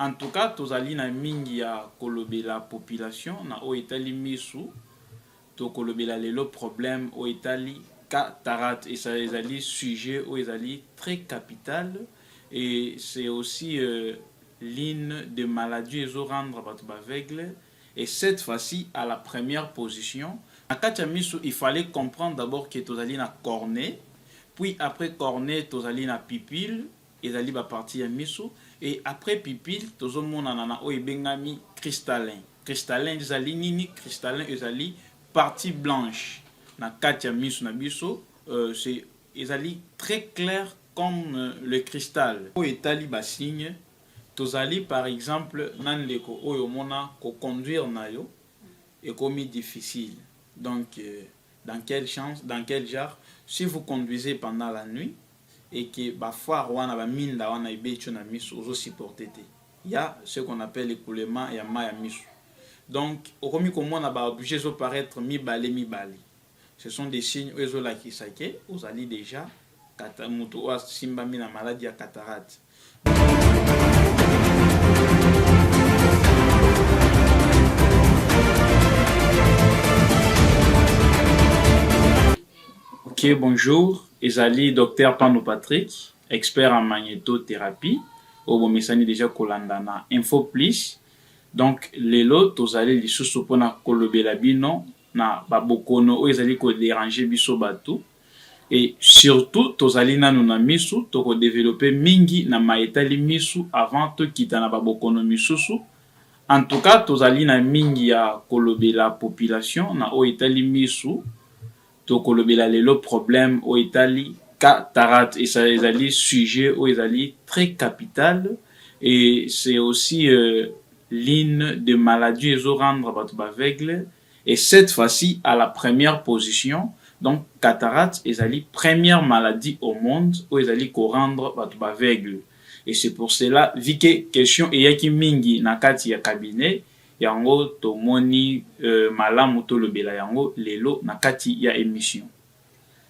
En tout cas tozali na mingi ya kolobela population na oyo etali misu tokolobela lelo problème oyo etali cataracte et ça ezali sujet oyo ezali très capital et c'est aussi euh, l'une des maladies ezo rendre bato baveugle et cette fois-ci à la première position na kati ya misu il fallait comprendre d'abord que tozali na cornet puis après cornet tozali na pupille Ezali ba partie ya misu et après pupille tozo monana na oyo ebengami cristallin. Cristallin ezali nini? Cristallin ezali partie blanche na kati ya misu na biso euh, ezali très clair comme euh, le cristal. Oyo etali ba signes tozali par exemple na ndeko oyo omona ko conduire na yo ekomi difficile donc euh, dans quel chance, dans quel genre si vous conduisez pendant la nuit et que ba foire wana ba minda wana ebeti yo na misu ozo supporter te ya ce qu'on appelle ecoulement ya mayi ya misu donc okomi komona ba objet ezo paraître mibale mibale ce sont des signes oyo ezolakisa ke ozali deja mutu oyo asimbami na maladi ya cataracte Ok, bonjour. Ezali Dr Pano Patrick, expert en magnétothérapie. Oyo bomesani déjà kolanda na Info Plus. Donc lelo tozali lisusu mpona kolobela bino na ba bokono oyo ezali ko deranger biso batu et surtout tozali nanu na misu toko developper mingi na maye etali misu avant tokita na ba bokono misusu en tout cas tozali na mingi ya kolobela population na oyo etali misu tokolobela lelo problème oyo etali cataracte et ça ezali sujet oyo ezali très capital et c'est aussi euh, ligne de maladie ezo rendre batu b'aveugle et cette fois ci à la première position donc cataracte ezali première maladie au monde oyo ezali ko rendre batu b'aveugle et c'est pour cela vu que question eyaki mingi na kati ya cabinet yango tomoni malamu tolobela yango lelo na kati ya emission.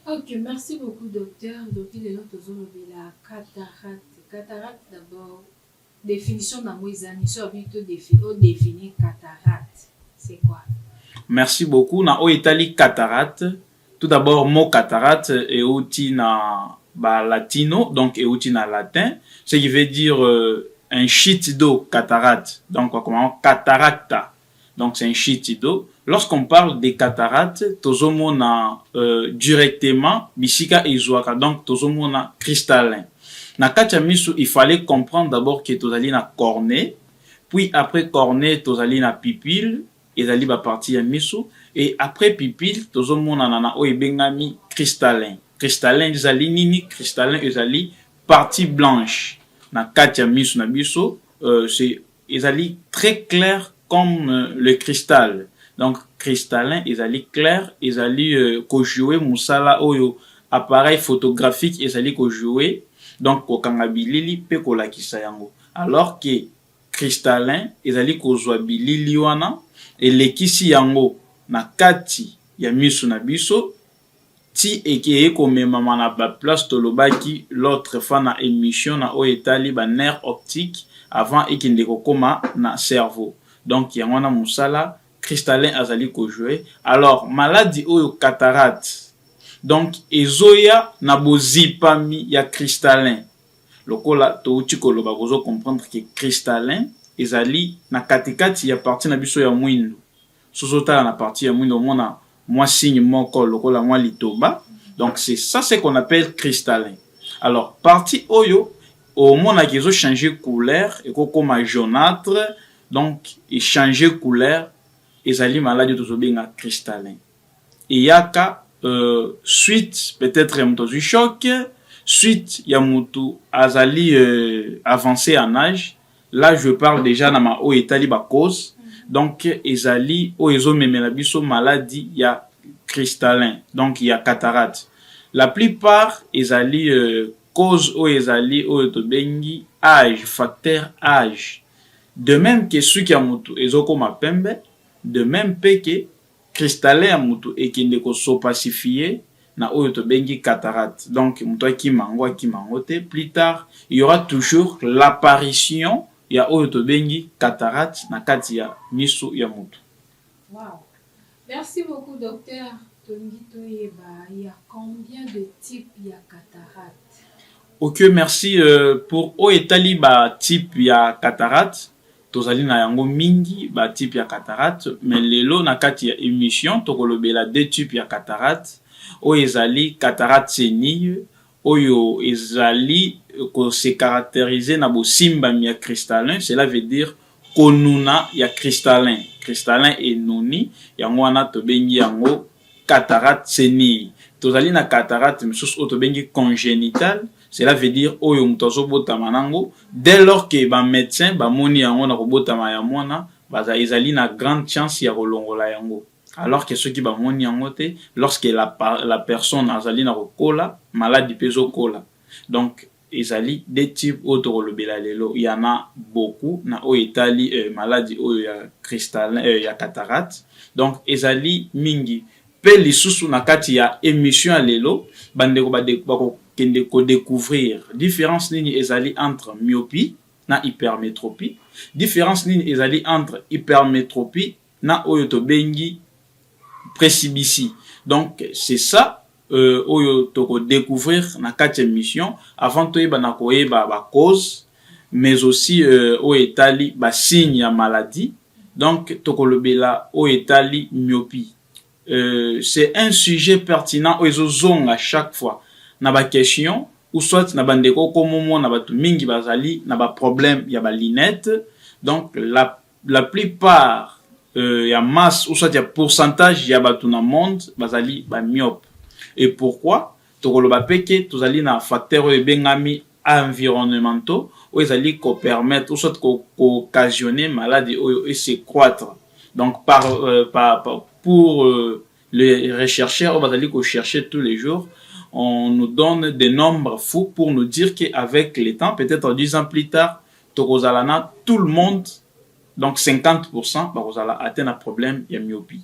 Ok merci beaucoup docteur, donc lelo tozo lobela cataracte, cataracte d'abord. Definition nango eza nini? Soki babi to defi o definir cataracte c'est quoi? Merci beaucoup na oyo etali cataracte tout d'abord mot cataracte euti na ba latino donc euti na latin ce qui veut dire euh, un shit d'eau cataracte donc bakomaka cataracta donc c'est un shiti do lorsqu'on parle des cataractes tozo mona euh, directement bisika ezuaka donc tozo mona cristallin na kati ya misu il fallait comprendre d'abord que tozali na cornée puis après cornée tozali na pupille ezali ba partie ya misu et après pupille tozo mona na na oyo ebengami cristallin cristallin ezali nini cristallin ezali partie blanche na kati ya misu na biso euh, c'est Ezali très clair comme euh, le cristal. Donc cristallin ezali clair, ezali euh, ko jouer musala oyo appareil photographique ezali ko jouer donc kokanga bilili mpe kolakisa yango alors que cristallin ezali kozwa bilili wana elekisi yango na kati ya miso na biso ti ekeye komemama na ba place tolobaki l'autre fois na emission na oyo etali ba nerfs optiques avant ekende kokoma na cerveau donc yango wana musala cristallin azali ko jouer alors maladi oyo cataracte donc ezoya na bozipami ya cristallin lokola towuti koloba bozo comprendre que cristallin ezali na katikati ya partie na biso ya muindu. Soki ozo tala na partie ya muindu omona mwa signe moko lokola mwa litoba donc c'est ça ce qu'on appelle cristallin alors partie oyo omonaka ezo changer couleur eko koma jaunâtre donc e changer couleur ezali maladi oyo tozo benga cristallin eyaka euh, suite peut-être ya moto azwi choc suite ya moto azali euh, avance en âge Là je parle dejà na ma oyo etali ba cause donc ezali oyo ezo memela biso maladi ya cristallin donc ya cataracte la plus part ezali euh, cause oyo ezali oyo tobengi age facteur age de même que suki ya mutu ezokoma pembe de même pe que Cristallin ya mutu ekende ko s'opacifier na oyo tobengi cataracte donc mutu akima yango akima yango te plus tard il y aura toujours l'apparition ya oyo tobengi cataracte na kati ya misu ya mutu. Wow merci beaucoup docteur tolingi toyeba il ya combien de type ya cataracte? Ok merci pour oyo etali ba type ya cataracte Tozali na yango mingi ba type ya cataracte mais lelo na kati ya emission tokolobela deux type ya cataracte oyo ezali cataracte senile oyo ezali ko se caracteriser na bosimbami ya cristallin cela veut dire konuna ya cristallin, cristallin enuni yango wana tobengi yango Cataracte se nini? Tozali na cataracte misusu oyo tobengi congenitale, cela veut dire oyo moto azobotama nango, dès lors que ba medecins bamoni yango na kobotama ya mwana, ezali na grande chance ya kolongola yango. Alors que soki bamoni yango te, lorsque la personne azali na kokola, maladi mpe ezokola. Donc. Ezali deux types oyo tokolobela lelo. Il y en a beaucoup na oyo etali maladi oyo ya cristallin, ya cataracte. Donc ezali mingi. Mpe lisusu na kati ya emission ya lelo, bandeko bakokende ko decouvrir difference nini ezali entre myopie na hypermetropie, difference nini ezali entre hypermetropie na oyo tobengi presibisi donc c'est ça euh, oyo toko découvrir na kati émission avant toyeba na koyeba ba cause mais aussi euh, oyo etali ba signe ya maladie donc tokolobela oyo etali myopie euh, c'est un sujet pertinent oyo ezozonga chaque fois na ba question ou soit na bandeko okomomona bato mingi bazali na ba problème ya ba lunette donc la la plupart euh, ya masse ou soit ya pourcentage ya bato na monde bazali bamyope et pourquoi tokoloba mpe ke tozali na facteur oyo ebengami environnementaux oyo ezali kopermettre ou soit kooccasionne ko maladi oyo ese croître donc par, euh, par, par, pour euh, les rechercheurs oyo bazali kochercher tous les jours on nous donne des nombres fous pour nous dire qu'avec le temps peut-être 10 ans plus tard Tokozala na tout le monde donc 50 pourcent bakozala atte na problème ya myopie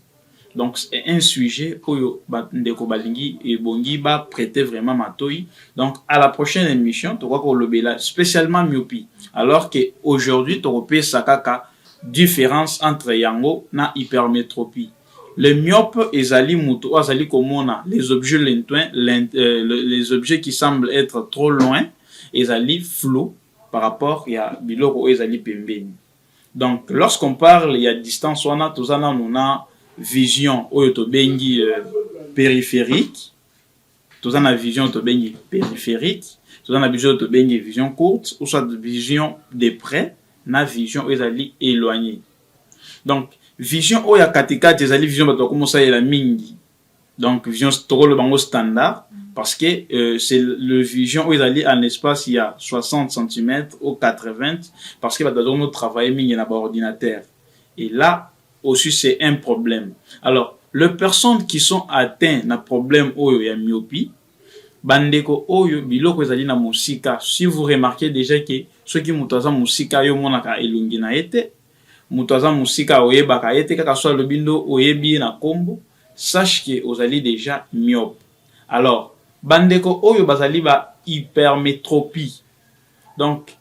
donc c'est un sujet oyo ba ndeko balingi ebongi ba prete vraiment matoyi donc à la prochaine émission tokoki kolobela spécialement myopie alors que aujourd'hui tokopesa kaka différence entre yango na hypermétropie le myope ezali moto oyo azali komona les objets lointains euh, les objets qui semblent être trop loin ezali flou par rapport ya biloko oyo ezali pembeni. Donc lorsqu'on parle ya distance wana toza nanu na vision oyo tobengi euh, périphérique toza na vision oyo tobengi périphérique toza na vision oyo tobengi vision courte ou soit vision de près na vision oyo ezali éloignée donc vision oyo ya katikati ezali vision bato bakoma osalela mingi donc vision tokoloba yango standard parce que euh, c'est le vision oyo ezali en espace ya 60 cm au 80 parce que bato bazali kotravaille mingi na baordinateur et là aussi c'est un problème alors les personnes qui sont atteintes na problème oyo ya myopie bandeko oyo biloko ezali na mosika si vous remarquez déjà que soki moto aza mosika yo omonaka elongi na ye te Moto aza mosika oyebaka ye te kaka so alobi ndo oyebi ye na kombo sache que ozali dejà myope. Alors ba ndeko oyo bazali ba hypermetropie donc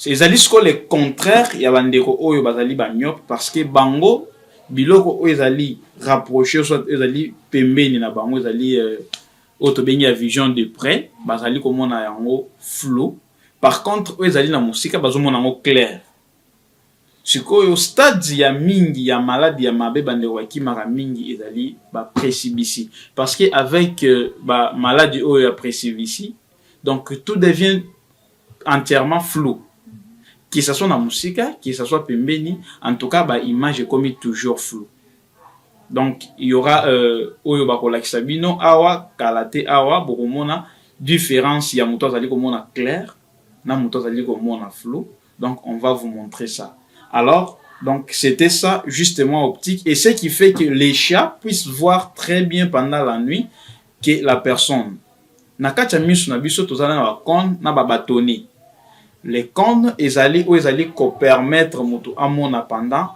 ezali sikoyo le contraire ya ba ndeko oyo bazali ba myope parce que bango biloko oyo ezali rapprocher soit ezali pembeni na bango ezali euh, oyo tobengi ya vision de près bazali komona yango flou par contre oyo ezali na mosika bazomona yango claire Sikoyo stades ya mingi ya malade ya mabe ba ndeko ba kimaka mingi ezali ba presibisi parce que avec ba maladi oyo ya presibisi donc tout devient entièrement flou que ça soit na musika que ça soit pembeni en tout cas ba image ekomi toujours flou donc il y aura euh, oyo bakolakisa bino awa kala te awa bokomona différence ya moto azali komona claire na moto azali komona flou donc on va vous montrer ça alors donc c'était ça justement optique et ce qui fait que les chats puissent voir très bien pendant la nuit que la personne na kati ya miso na biso tozala na bacone na babatoni les cones ezali oyo ezali kopermettre moto amona pendant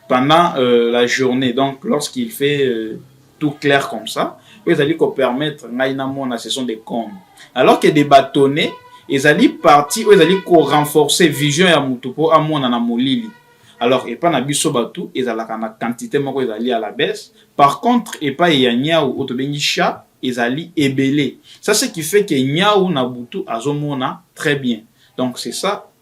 pendant euh, la journée donc lorsqu'il fait euh, tout clair comme ça oyo ezali kopermettre ngai namona ce sont des comptes alors que des bâtonnets ezali parti oyo ezali korenforcer vision ya motu mpo amona na molili alors epai na biso bato ezalaka na quantité moko ezali à la baisse par contre epai ya nyau oyo tobengi chat ezali ebele ça ce qui fait que nyau na butu azomona très bien donc c'est ça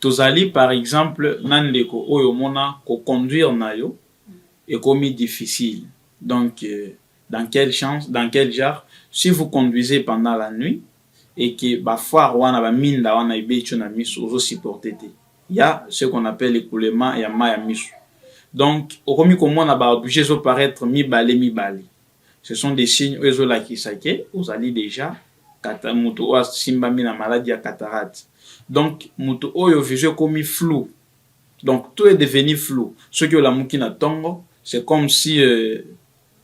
Tozali par exemple na ndeko oyo omona ko conduire nayo ekomi difficile donc dans quel chance dans quel genre si vous conduisez pendant la nuit et que ba phares wana ba minda wana ebeti yo na misu ozo supporter te il ya ce qu'on appelle ecoulement ya mayi ya misu donc okomi komona ba objets ezo paraitre mibale mibale ce sont des signes oyo ezolakisa ke ozali deja moto oyo asimbami na maladi ya cataracte donc moto oyo vision ekomi flou donc tout est devenu flou soki olamuki na ntongo c'est comme si euh,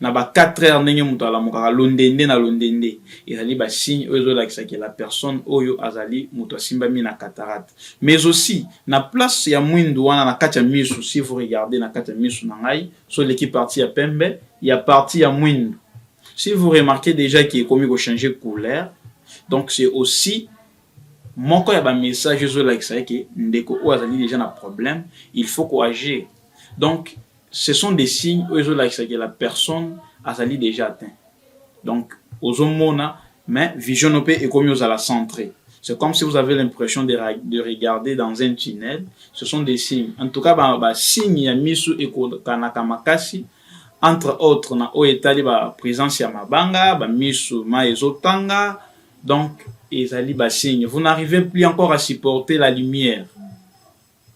na ba 4 heures ndenge moto alamukaka londende na londende ezali basigne oyo ezolakisa ke la personne oyo azali moto asimbami na cataracte mais aussi na place ya mwindu wana na kati ya misu si vous regardez na kati ya misu na ngai so leki parti ya pembe ya parti ya mwindu si vous remarquez déjà ki ekomi ko changer couleur donc c'est aussi moko ya ba message ezolakisa eke ndeko oyo azali déjà na problème il faut ko agir donc ce sont des signes oyo ezolakisa ke la personne azali déjà atteint donc ozomona Mais vision no pe ekomi ozala centre. C'est comme si vous avez l'impression de, de regarder dans un tunnel. Ce sont des signes. En tout cas, ba, ba signes ya misu ekokanaka makasi entre autres na oyo etali ba présence ya mabanga, ba misu ma ezotanga. Donc, ezali ba signes. Vous n'arrivez plus encore à supporter la lumière.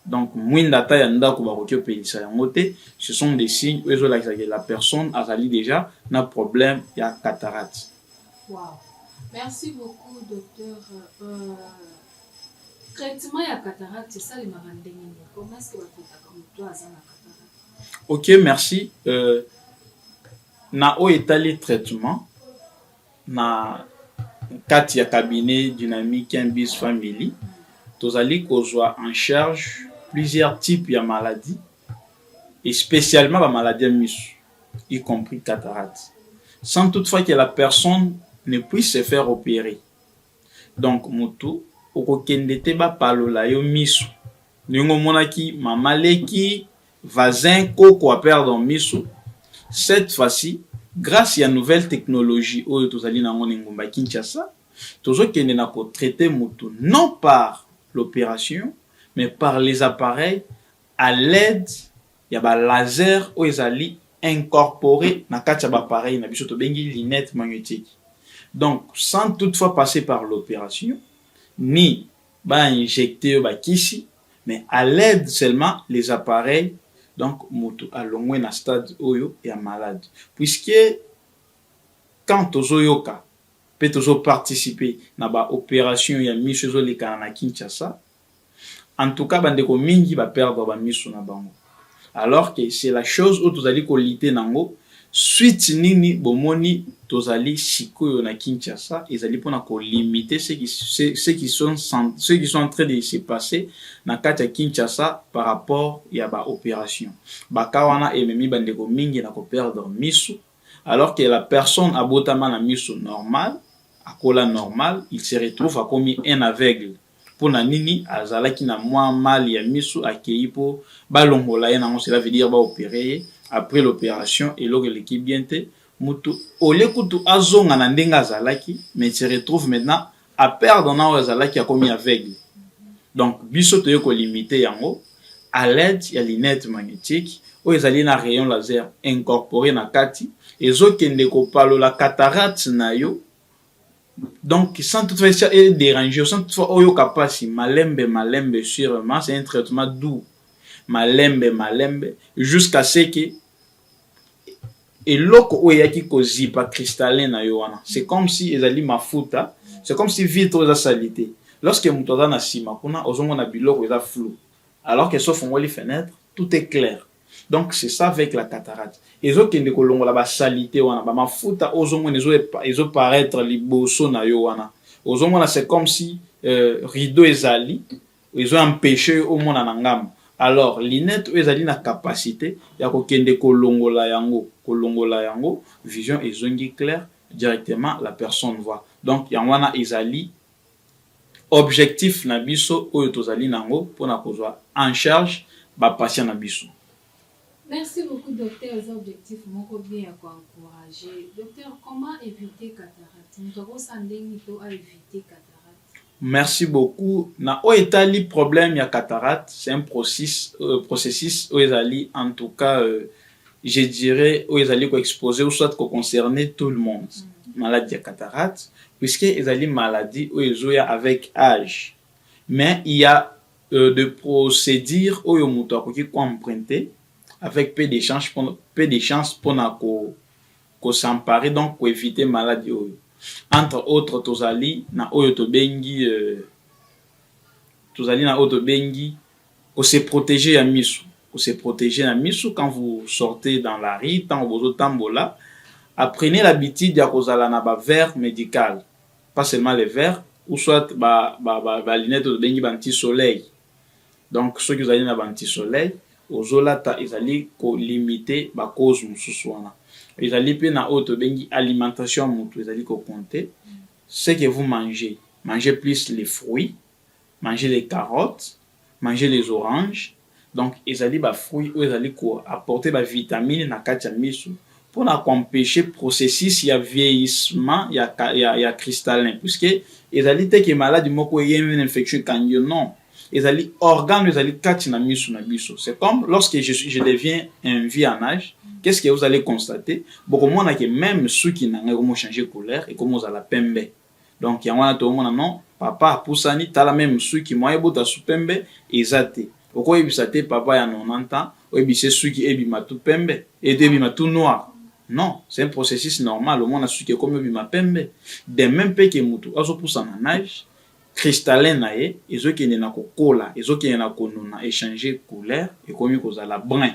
donc mwinda ata ya ndako bakoki opelisa yango te ce sont des signes oyo ezolakisa ke la personne azali déjà na problème ya cataracte wow. merci beaucoup docteur euh, traitement ya cataracte esalemaka ndenge nini comment est-ce que bakotaka moto aza na cataracte ok merci euh, na oyo etali traitement Na kati ya cabinet Dynamique Mbis Family, tozali kozwa en charge plusieurs types ya maladies et spécialement ba maladies ya misu, y compris cataracte, sans toutefois que la personne ne puisse se faire operer. Donc mutu okokende te bapalola yo misu ndenge omonaki mama leki Vazin koko a perdre miso cette fois ci grace ya nouvelle technologie oyo tozali na yango na engumba Kinshasa tozokende na ko traiter mutu non par l'operation mais par les appareils à l'aide ya ba laser oyo ezali incorporer na kati ya ba appareils na biso tobengi lunette magnetique donc sans toutefois passer par l'operation ni ba injecter yo ba kisi mais à l'aide seulement les appareils donc mutu alongwe na stade oyo ya malade puisque quand tozo yoka pe tozo participer na ba operation ya misu ezo lekana na Kinshasa en tout cas ba ndeko mingi ba perdre ba misu na bango Alors que c'est la chose oyo tozali ko lutter nango, suite nini bomoni tozali sikoyo na Kinshasa ezali pona ko limiter ce qui, ce qui sont, ce qui sont en train de se passer na kati ya Kinshasa par rapport ya ba operations. Ba cas wana ememi ba ndeko mingi na ko perdre misu, alors que la personne abotama na misu normal, akola normal, il se retrouve akomi un aveugle. Mpo na nini azalaki na mwa mal ya misu akeyi mpo balongola ye nango cela veut dire ba opere ye après l'operation eloko eleki bien te mutu au lieu kutu azonga na ndenge azalaki mais se retrouve maintenant a perdre na oyo azalaki akomi aveugle donc biso toye ko limite yango à l'aide ya lunette magnétique oyo ezali na rayon laser incorpore na kati ezokende kopalola cataracte na yo Donc, sans toutefois et déranger, sans toutefois oyoka pasi, malembe, malembe, sûrement, c'est un traitement doux. Malembe, malembe, jusqu'à ce que eloko oyo eyaki kozipa cristallin na yo wana c'est comme si ezali mafuta c'est comme si vitre oyo eza salite lorsque moto aza na nsima kuna ozomona biloko eza flou alors que sofongoli fenêtre tout est clair Donc c'est ça avec la cataracte. Ezo kende ko longola ba salite wana, ba mafuta ozo mona ezo ezo paraître liboso na yo wana. Ozo mona c'est comme si euh, rideau ezali ezo empêcher yo omona na ngambo. Alors lunette oyo ezali na capacité ya ko kende ko longola yango, ko longola yango, vision ezongi clair directement la personne voit. Donc yango wana ezali objectif na biso oyo tozali nango pona kozua en charge ba patient na biso. Merci beaucoup docteur eza objectif moko bien ya ko encourage docteur comment eviter cataracte mutu akosala ndenge to a eviter cataracte. Merci beaucoup na oyo etali problème ya cataracte c'est un processus oyo ezali en tout cas. je dirais oyo ezali ko exposer ou soit ko concerner tout le monde mm. maladie ya cataracte puisque ezali maladie oyo ezoya avec âge mais il y a euh, de procédure oyo moto akoki ko emprunter avec peu de chance peu de chance mpona ko ko s'emparer donc ko éviter maladie oyo entre autres tozali na oyo tobengi euh, tozali na oyo tobengi Ko se proteger ya misu, ko se proteger na misu quand vous sortez dans la rue, tango bozo tambola, apprenez l'habitude ya kozala na ba verres medicales, pas seulement les verres ou soit ba ba lunettes oyo tobengi ba anti soleil, donc soki ozali na ba anti soleil ozo lata ezali ko limiter ba causes mosusu wana. Ezali pe na oyo tobengi alimentation ya mutu ezali ko compter, ce que vous mangez, mangez plus les fruits, manger les carottes, manger les oranges, donc ezali ba fruits oyo ezali ko apporter ba vitamines na kati ya misu pona ko empecher processus ya vieillissement ya, ya, ya cristallin puisque ezali te ke maladi moko eye une infection ekangi yo non ezali organe oyo ezali kati na misu na biso c'est comme lorsque je, suis, je deviens un vieux en âge qu'est-ce que vous allez constater bokomona ke même suki na ngai ekomochange couleur ekomozala pembe donc yango wana toomona non papa apusani tala meme suki mwa ebota su pembe eza te okoyebisa te papa ya 90 ans oyebise suki ebima tu pembe eto ebima tu noir non c'est un processus normal omona suki ekomi obima pembe de même mpe ke motu azopusana nage cristallin na ye ezokende na kokola ezokende na konuna echange couleur ekomi kozala brin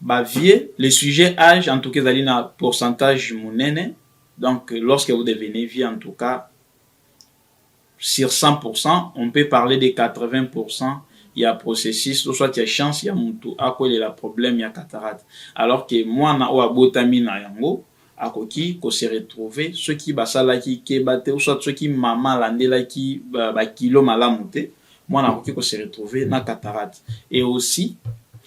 Ba vieux, le sujet age en tout cas ezali na pourcentage munene donc lorsque vous devenez vieux en tout cas sur 100% on peut parler de 80% ya processus to soit ya chance ya mutu akwelela problème ya cataracte alors que mwana oyo abotami na yango akoki ko se retrouver soki basalaki keba te ou soit soki maman alandelaki ba kilos malamu te mwana akoki ko se retrouver na cataracte et aussi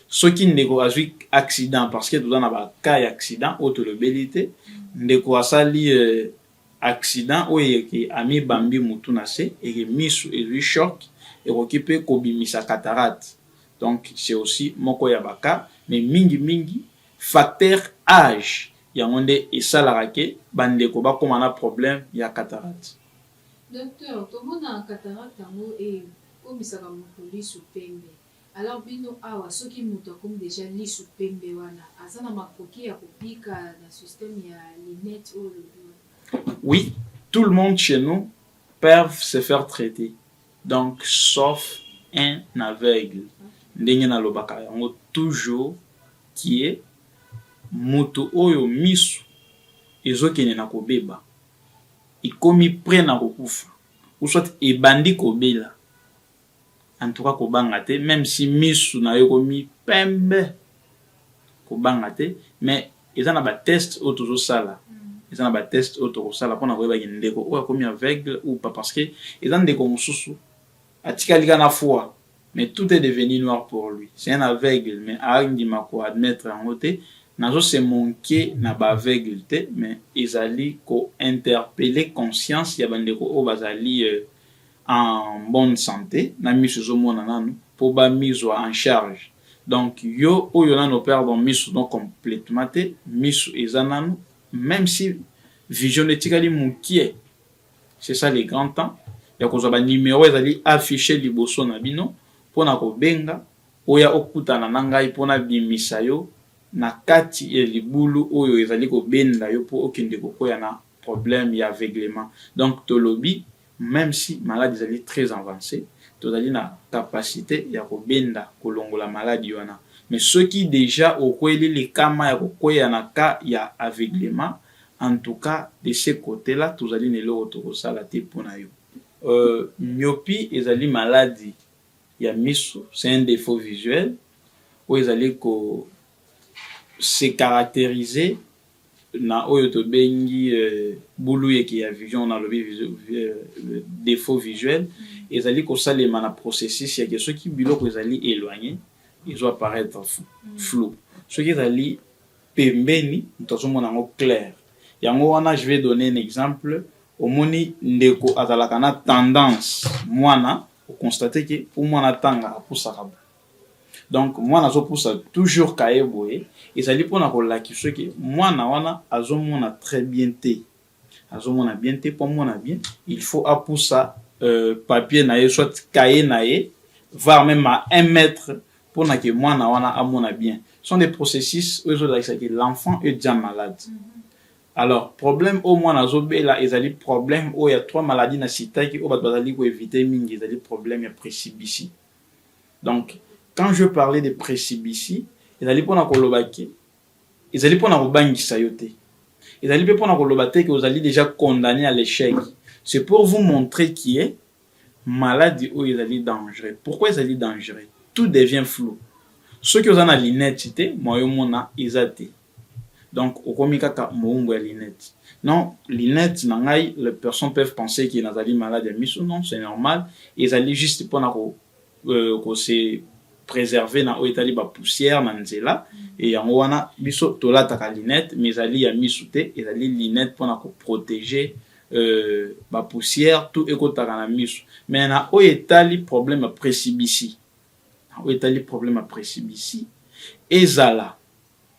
soki ndeko azwi accident parce que toza na ba cas ya accident oyo tolobeli te ndeko asali euh, accident oyo eke amibambi mutu na se eke misu ezwi choc ekoki mpe kobimisa cataracte donc c'est aussi moko ya ba cas mais mingi mingi Facteur age yango nde esalaka ke ba ndeko ba koma na problème ya cataracte. Docteur tomona cataracte yango e komisaka mutu lisu pembe alors bino awa soki mutu akomi dejà lisu pembe wana aza na makoki ya ko bika na système ya lunette oyo olobi wana? Oui tout le monde chez nous peuvent se faire traiter. Donc sauf un aveugle ndenge na lobaka yango toujours que mutu oyo misu ezo kende na ko beba ekomi pret na ko kufa ou soit ebandi ko bela en tout cas ko banga te meme si misu nayo ekomi pembe kobanga te mais eza na ba test oyo tozosala eza na bateste oyo tokosala mpona koyebaki ndeko oyo akomi aveugle ou pas parce que eza ndeko mosusu atikali ka na foi mais tout est devenu noir pour lui c'est un aveugle mais andima ko admettre yango te nazo se manquer na ba aveugle te mais ezali ko interpeller conscience ya bandeko oyo bazali euh, en bonne sante na misu ezo mona nanu po ba mi zua en charge donc yo oyo nanu o perdre misu no completement te misu eza nanu meme si vision no etikali mukie c'est ça le grand temps ya kozua ba numero ezali affiche liboso na bino pona ko benga oya okutana na ngai po na bimisa yo na kati ya libulu oyo ezali ko benda yo po okende ko kweya na problème ya aveuglement donc tolobi meme si malade ezali très avance tozali na capacite ya kobenda kolongola maladi wana mais soki dejà okweli likama ya kokweya na cas ya aveuglement en tout cas de ce cote là tozali na eloko tokosala te mpo na yo. Euh, myopi ezali maladi ya miso, c'est un defaut visuel oyo ezali ko se caracteriser na oyo tobengi buluyeke ya vision, nalobi defaut visuel, ezali kosalema na processus ya ke soki biloko ezali eloigner ezo apparaitre flou, soki ezali pembeni moto azo mona yango clair. Yango wana je vais donner un exemple, omoni ndeko azalaka na tendance mwana o constater ke po mwana atanga apusaka boye, Donc mwana azo pusa toujours kaye boye ezali pona ko lakisa ke mwana wana azo mona très bien te. Azo mona bien te po amona bien il faut a pusa euh, papier na ye soit kaye na ye var meme à un mètre pona ke mwana wana amona bien. Ce sont des processus oyo ezo lakisa ke l'enfant est déjà malade. Mm -hmm. Alors problème oyo mwana azo bela ezali problème oyo ya trois maladies na sitaki oyo bato bazali ko eviter mingi ezali problème ya presibisi. Donc, quand je parlais de presibisi, ezali pona koloba ke ezali pona kobangisa yo te. Ezali pe pona koloba te ke ozali deja condamne à l'échec. C'est pour vous montrer qui est maladi oyo ezali dangereux. Pourquoi ezali dangereux? Tout devient flou. Soki oza na lunette te, moyen omona eza te. Donc okomi kaka mowumbu ya lunette. Non, lunette na ngai les personnes peuvent penser que nazali malade ya misu, non c'est normal, ezali juste pona ko euh, ko se preserver na oyo etali ba poussière na nzela et yango wana biso tolataka lunette mais ezali ya misu te, ezali lunette pona ko proteger euh, ba poussière tout ekotaka na misu. Mais na oyo etali problème ya presibisi, na oyo etali problème ya presibisi ezala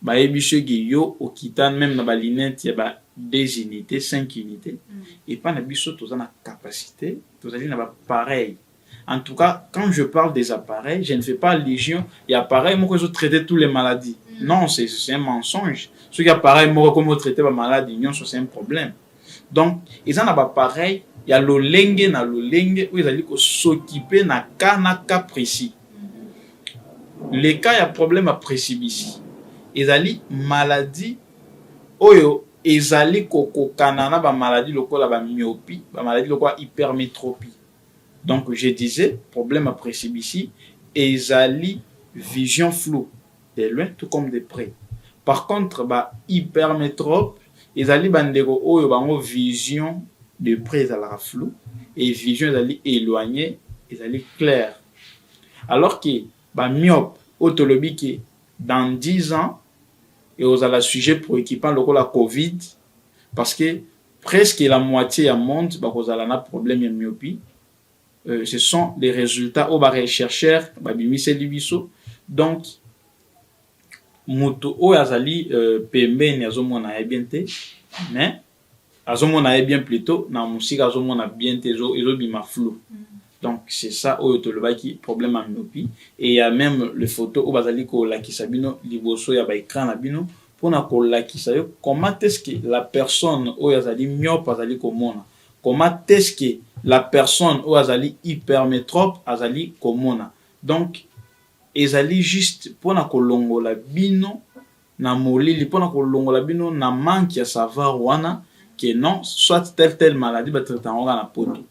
Bayebi ce que yo okita meme na ba lunettes ya ba deux unites, cinq unites. Epa na biso toza na capacite, tozali na ba pareils. En tout cas quand je parle des appareils, je ne fais pas allusion ya appareil moko ezo traiter tous les maladies. Non, c'est un mensonge. Soki appareil moko ekomi ko traiter ba malades nionso, c'est un problème. donc eza na bapareil ya lolenge na lolenge oyo ezali kosokipe na cas na cas précis le cas ya problème ya presibisi ezali maladie oyo ezali kokokana na bamaladi lokola bamyopi bamaladi lokola hypermétropie donc je disais problème ya presibisi ezali vision flou de loin tout comme de près par contre ba hypermetrope ezali bandeko oyo bango vision de près ezalaka flou et vision ezali éloigne ezali clair alors que ba myope oyo tolobi ke dans 10 ans ekozala sujet préoccupant lokola covid parce que presque la moitié ya monde bakozala na problème ya myopie euh, ce sont les résultats oyo barechercheur babimiseli biso donc moto oyo azali euh, pembeni azomona ye bien te mais azomona ye bien plutôt na mosika azomona bien te ezobima flou mm. donc c'est ça oyo tolobaki problème ya myopi et ya même le photo oyo bazali kolakisa bino liboso ya baécran na bino mpona kolakisa yo comment est ce que la personne oyo azali myope azali komona Comment est ce que la personne oyo azali hypermetrope azali komona? Donc ezali juste pona kolongola bino na molili, pona kolongola bino na manque ya savoir wana que non soit tel tel maladie ba traitaka yango kaka na poto.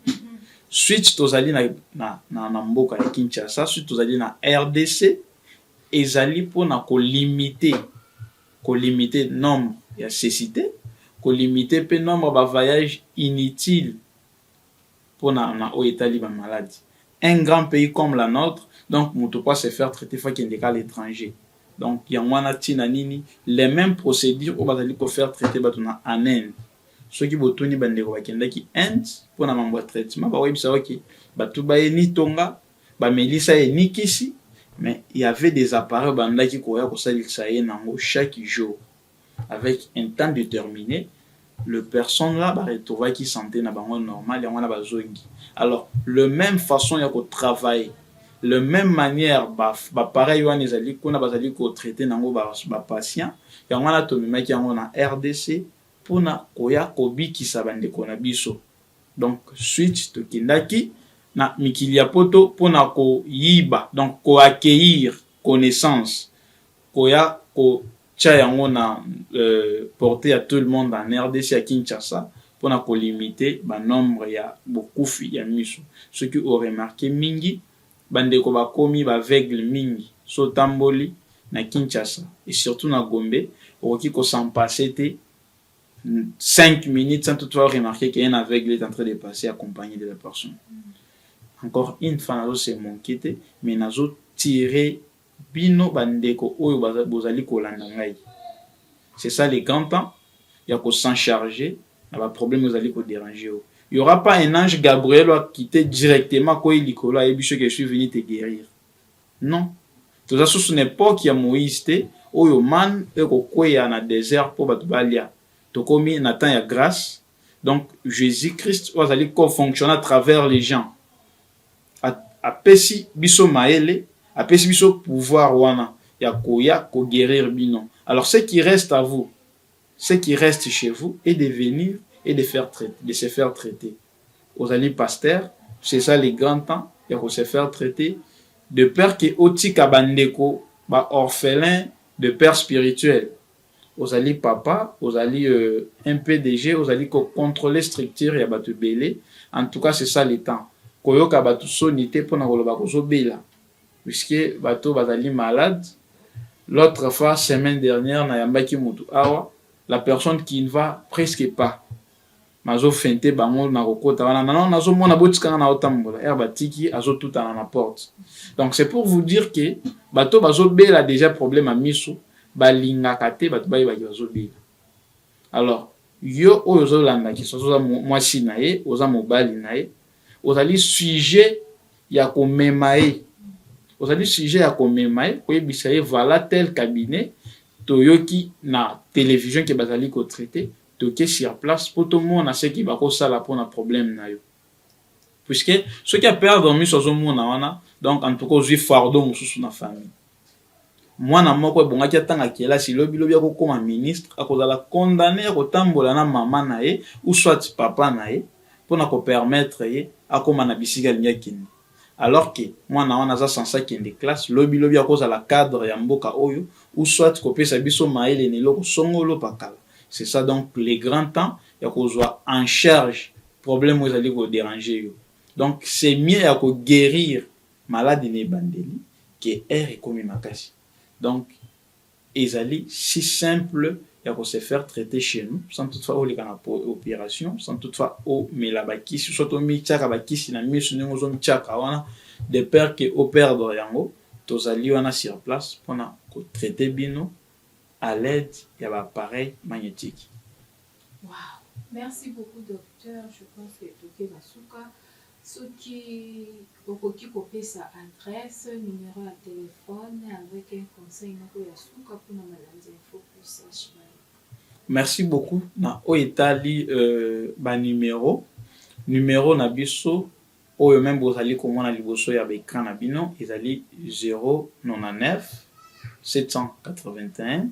Suite tozali na, na, na, na mboka ya Kinshasa, suite tozali na RDC, ezali pona kolimite ko limiter nombre ya cecite, ko limiter pe nombre ya ba vaillages inutiles pona na oyo etali ba malades. Un grand pays comme la notre, donc mutu po a se faire traiter faut akende ka a l'etranger. Donc yango wana tina nini les memes procedures oyo bazali ko faire traiter batu na en Inde, soki botuni ba ndeko bakendaki Inde pona mambo ya traitement, bakoyebisa yo ke batu baye ni Tonga, bamelisa ye ni kisi mais il y'avait des appareils bandaki koya kosalisa ye nango chaque jour avec un temps determine le personne là ba retrouvaki sante na bango normal yango wana bazongi alors le même façon ya ko travailler le même manière ba appareil wana ezali kuna bazali ko traiter nango ba, ba patient yango wana tomemaki yango na RDC mpona koya kobikisa bandeko na biso Donc suite tokendaki na mikili ya poto pona koyiba donc ko accueillir connaissance koya ko tia yango na porte ya tout le monde en rdc ya Kinshasa pona ko limite ba nombre ya bokufi ya misu soki o remarque mingi ba ndeko bakomi ba aveugle mingi so otamboli na Kinshasa et surtout na Gombe okoki ko s'en passe te 5 minutes sans toutefois remarquer qu'un aveugle est en train de passer accompagné de la personne. Encore une fois, nazo se manquer te, mais nazo tirer bino bandeko oyo bozali kolanda ngai. C'est ça le grand temps ya ko s'en charger na ba problèmes ozali ko déranger yo. Il y aura pas un ange Gabriel qui te directement koyi likolo ayebi ce que je suis venu te guérir. Non toza susu na epoque ya Moïse te oyo manne eko kweya na desert po batu balia. Tokomi na temps ya grace donc Jesus Christ oyo azali ko fonctionner à travers les gens apesi biso mayele apesi biso pouvoir wana ya koya ko guerir bino alors ce qui reste à vous ce qui reste chez vous est de venir et de faire traite de se faire traiter. ozali pasteur c'est ça le grand temps ya ko se faire traiter de père que otika ba ndeko ba orphelins de père spirituel ozali papa ozali euh, un PDG ozali ko contrôler structure ya batu belé en tout cas c'est ça le temps koyoka batu soni te pona koloba kozobela puisque bato bazali malade l'autre fois semaine dernière nayambaki mutu awa la personne qui ne va presque pas Nazo feinte bango nako kota wana nano nazo mona botika nga nao tambola heure batiki azo tutana na porte donc c'est pour vous dire que bato bazo bela dejà problème ya misu balingaka te bato bayebaki bazo bela alors yo oyo ozo landa kiso oza mwasi na ye oza mobali na ye ozali sujet ya komema ye ozali sujet ya komema ye koyebisa ye voilà tel cabinet toyoki na télévision ke bazali kotraite Toke sur place po tomona ce que bako sala pona problème nayo. Puisque soki a perdre miso azo mona wana donc en tout cas ozui fardeau mususu na famille. Mwana moko ebongaki atanga kelasi lobi lobi ako koma ministre ako zala condamne yako tambola na maman naye ou soit papa naye pona ko permettre ye akoma na bisika alingi akende. alors que mwana wana aza sense akende classe lobi lobi akozala cadre ya mboka oyo ou soit kopesa biso mayele na eloko songolo pakala c'est ça donc le grand temps ya kozwa en charge problème oyo ezali koderange yo donc c'est mieux ya koguérir maladi na ebandeli ke aire ekomi makasi donc Ezali si simple ya ko se faire traiter chez nous sans toutefois oleka na operation, sans toutefois omela ba kisi soit omityaka ba kisi na miso ndenge ozomtyaka wana de peur que o perdre yango. Tozali wana sur place mpo na ko traiter bino à l'aide ya ba appareils magnetique. Waouh! Merci beaucoup docteur, je pense que toke na suka. Soki okoki kopesa adresse, numero ya telephone avec un conseil moko ya suka pona balandi ya Focus HY. Merci beaucoup na oyo etali ba numero. Numero na biso oyo meme bozali komona liboso ya ba ecran na bino ezali 099 781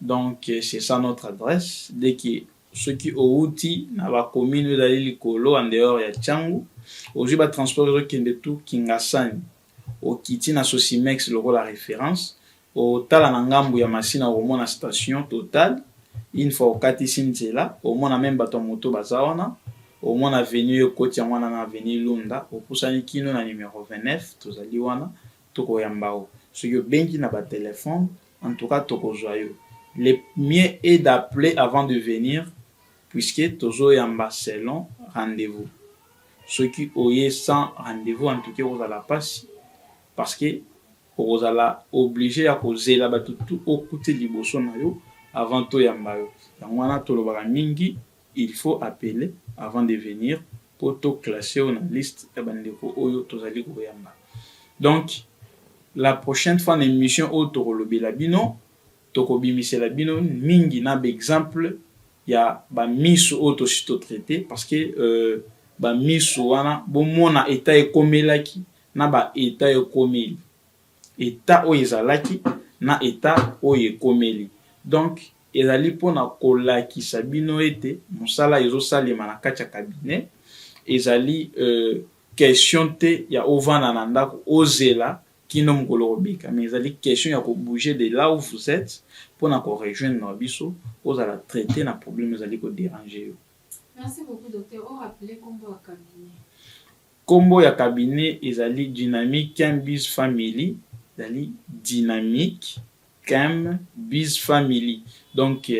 Donc c'est ça notre adresse dès que soki owuti na ba commune oyo ezali likolo en dehors ya Tshangu ozwi ba transport ezokende tout Kingasani okiti na Sosimex lokola reference otala na ngambu ya Masina okomona station Total une fois okatisi nzela omona meme bato ya moto baza wana omona avenue oyo ekoti yango wana na avenue Lunda opusani kino na numero 29 tozali wana Toko yamba yo soki obengi na ba telephone en tout cas toko zua yo le mieux est d'appeler avant de venir puisque tozo yamba selon rendez vous soki oye sans rendez vous en tout cas eko zala pasi parce que oko zala oblige ya ko zela batu tout o kuti liboso nayo avant to yamba yo yango wana to lobaka mingi Il faut appeler avant de venir po to classer yo na liste ya ba ndeko oyo tozali koyamba. Donc la prochaine fois na emission oyo tokolobela bino, tokobimisela bino mingi na ba exemples ya ba miss oyo tosi to traiter parce que ba miss wana bomona etat ekomelaki na ba etat ekomeli. etat oyo ezalaki na etat oyo ekomeli donc ezali pona kolakisa bino ete musala ezo salema na kati ya cabinet ezali question te ya ovanda na ndaku ozela kino mukolo okobika mais ezali question ya ko bouger de là où vous etes pona ko rejoindre biso ozala traite na problème ezali ko deranger yo. Merci beaucoup docteur o rappeler kombo ya cabinet. Kombo ya cabinet ezali Dynamic Kem Biz Family, ezali Dynamic Kem Biz Family. Donc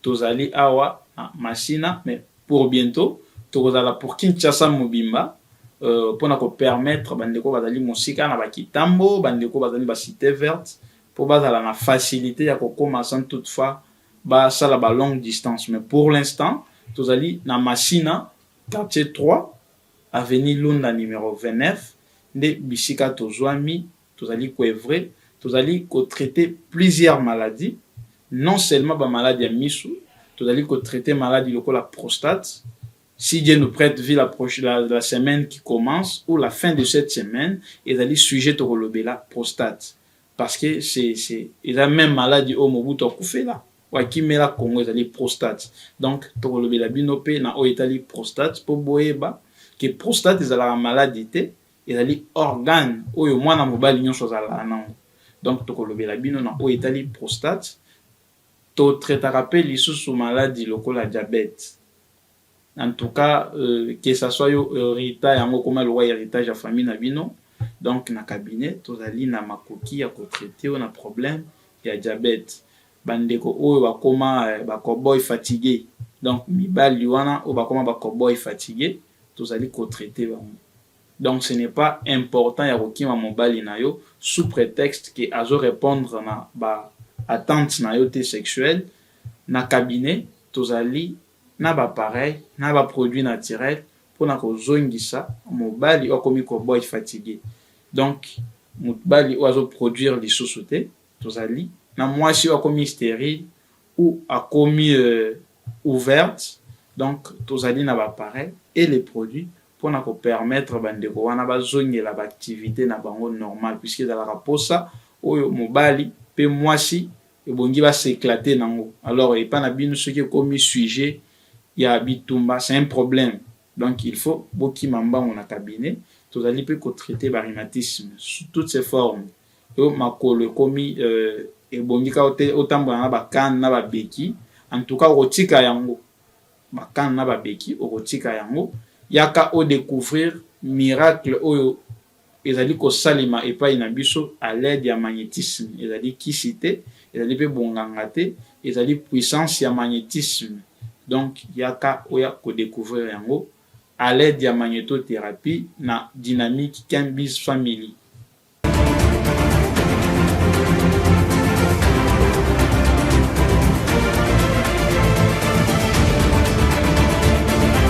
tozali awa na Masina mais pour bientot tokozala pour Kinshasa mobimba pona ko permettre ba ndeko bazali mosika na ba Kitambo, ba ndeko bazali ba Cite Verte po bazala na facilite ya kokoma sans toutefois basala ba longue distance mais pour l'instant tozali na Masina. Quartier 3, avenue Lunda numero 29 nde bisika tozwami, tozali ko oeuvrer, tozali ko traiter plusieurs maladies, non seulement ba malades ya misu, tozali ko traiter maladi lokola prostate, si Dieu nous prete vie la la semaine qui commence ou la fin de cette semaine ezali sujet tokolobela prostate. parce que c'est c'est eza même maladi oyo mobutu akufela oyo akimela congo ezali prostate donc tokolobela bino mpe na oyo etali prostate mpo boyeba ke prostate ezalaka maladi te ezali organe oyo mwana mobali nyonso azalaka nango donc tokolobela bino na oyo etali prostate totretaka mpe lisusu maladi lokola diabete en tout cas euh, que ça soit yo heritage yango okoma lokola héritage ya famille na bino donc na cabinet tozali na makoki ya kotraite yo na problème ya diabète bandeko oyo bakoma euh, bacoboy fatigue donc mibali wana oyo bakoma bacoboy fatigue tozali kotraite bango donc ce n'est pas important ya kokima mobali na yo sous prétexte que azo répondre na ba attente na yo te sexuelle na cabinet tozali na ba appareils na ba produits naturels pona kozongisa mobali oyo akomi cowboy fatigue. Donc mobali oyo azo produire lisusu te, tozali na mwasi oyo akomi sterile ou akomi ouverte, donc tozali na ba appareils et les produits pona ko permettre ba ndeko wana bazongela ba activites na bango normales puisque ezalaka posa oyo mobali pe mwasi ebongi ba s'eclater nango alors epa na bino soki ekomi sujet ya bitumba c'est un problème donc il faut bokima mbangu na cabinet tozali pe ko traiter ba rhumatisme sous toutes ses formes yo makolo ekomi euh, ebongi ka otambola na ba canne na ba beki en tout cas okotika yango ba canne na ba beki okotika yango yaka o découvrir miracle oyo Ezali kosalema epai na biso à l'aide ya magnetisme. Ezali kisi te, ezali pe bonganga te, ezali puissance ya magnetisme. Donc yaka oya ko decouvrir yango à l'aide ya magnetotherapie na Dynamic Ken Biz Family.